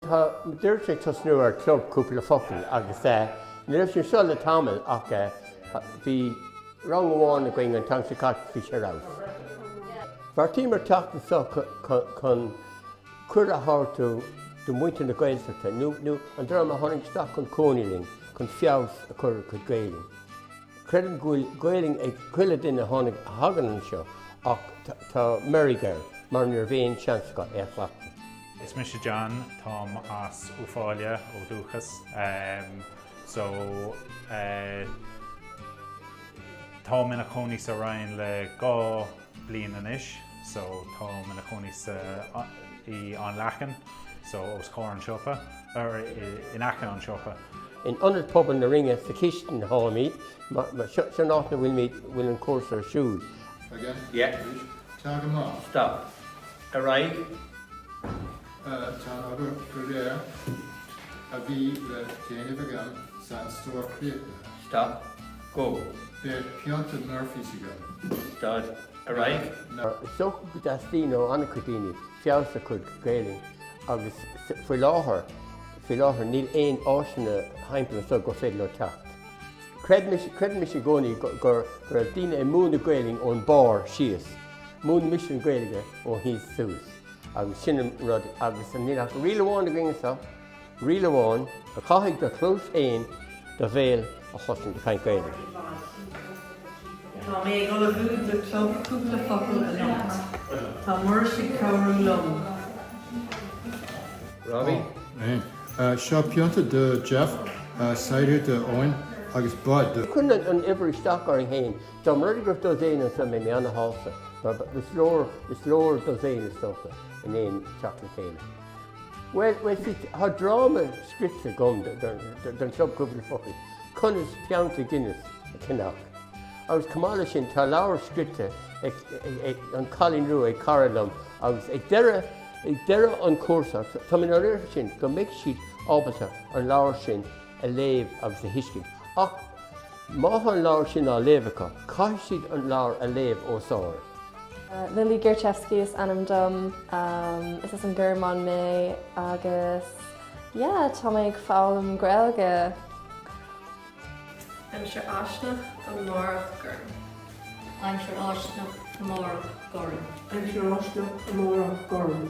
Táimid arís ag tosnú ar Chlub Cúpla Focal agus ní raibh sé anseo le tamall ach bhí rang amháin againn an t-am seo caite bhí sé ar fheabhas. Bheartaíomar teacht anseo chun cuireadh a thabhairt do mhuintir na Gaeltachta nó an dream a tháinig isteach chun cónaí linn chun feabhas a chur ar a gcuid Gaelainne. Creidim go bhfuil Gaelainn ag chuile duine a tháinig, a thagann anseo ach tá meirg air mar ní raibh aon seans acu é a chleachtadh. Is mise John, táim as Uíbh Fhailí, ó dhúchas, so táim ina chónaí sa Rinn le dhá bliain anois, so táim ina chónaí sa i An Leacan, so os comhair an siopa, or in aice an siopa. In ionad pobal na Rinne sa chistin atháimid, seo an áit 'na bhfuilimid, bhfuil an cúrsa ar siúl. Again? Yeah. Good. Tá go maith. Stop. Ar aghaidh. Tá an obair go léir a bhí le déanamh agam sa stór críochnaithe. Stop. Go. Beidh pionta Murphy's agam. Stad. Ar aghaidh. Ná. Is dócha go dteastaíonn ó an-chuid daoine feabhas a chur ar a gcuid Gaelainn agus faoi láthair, faoi láthair níl aon áiseanna thimpeall anseo gur féidir leo teacht. Creidimse i gcónaí go raibh daoine ag múineadh Gaelainn ón mbarr síos. Múinimse an Ghaeilge ó thíos suas agus sin an rud agus níl ach riail amháin againn anseo, riail amháin, caithfidh do chluas fhéin do bhéal a chloisint ag caint Gaeilge. Tá mé ag ullmhú do club cúpla focal anocht. Tá Muiris ag cabhrú liom. Robbie? Ó, eh, seo pionta do Jeff, eh, cider d'Eoin, agus Bud. Ní chuireann an uimhir isteach orainn fhéin. Dá mba rud é go raibh dosaen anso, bheadh mé an-shásta, mar ba, is leor, is leor dosaen is dócha, in aon teacht le chéile. Bhuel, bhuel, sea, tá dráma scrite agam don Chlub Cúpla Focal, Conas Pionta Guinness a Cheannach. Agus chomh maith leis sin, tá leabhar scrite ag, ag, An Cailín Rua ag cara liom agus ag deireadh, ag deireadh an chúrsa, tá mé nár oiread sin go mbeidh siad ábalta an leabhar sin, a léamh agus a thuiscint. Ach má tá an leabhar sin á léamh acu, caithfidh siad an leabhar a léamh os ard. Lily Gerchevsky is ainm dom. Is as an nGearmáin mé agus yeah, tá mé ag foghlaim Gaeilge. Aimsir fháistineach amárach gorm. Aimsir fháistineach amárach gorm. Aimsir fháistineach amárach gorm.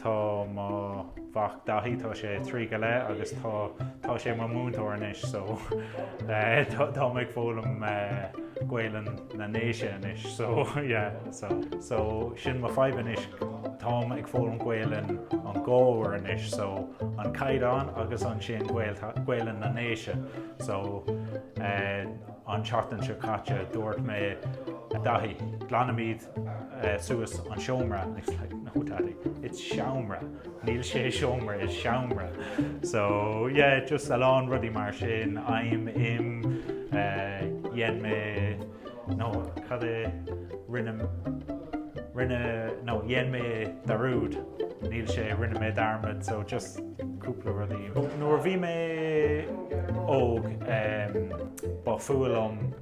Tá mo mhac Daithí, tá sé trí go leith agus tá, tá sé mo múinteoir anois so táim ag foghlaim Gaolainn na nDéise anois so yeah, so, so sin mo fadhb anois, táim ag foghlaim Gaolainn an Ghleabhair anois so an Caighdeán agus ansin Gaolainn na nDéise so an tseachtain seo caite dúirt mé, Daithí, glanfaimid suas an seomra and he was like no daddy it's seamra níl sé seomra it's seamra so yeah just a lán rudaí mar sin em dhein mé no cad é rinne rinne no dhein mé dearúd níl sé rinne mé dearmad so just cúpla rudaí nuair a bhí mé óg ba fuath liom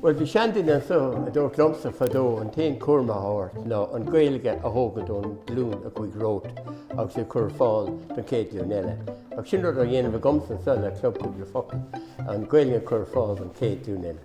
Bhuel, bhí seanduine anseo a dúirt liomsa fadó, an t-aon cúram atá ort ná an Ghaeilge a thógaint ón ghlúin a chuaigh romhat agus í a chur ar fáil don chéad ghlúin eile. Ach sin rud á dhéanamh agamsa anseo le Club Cúpla Focal, an Ghaeilge a chur ar fáil don chéad ghlúin eile.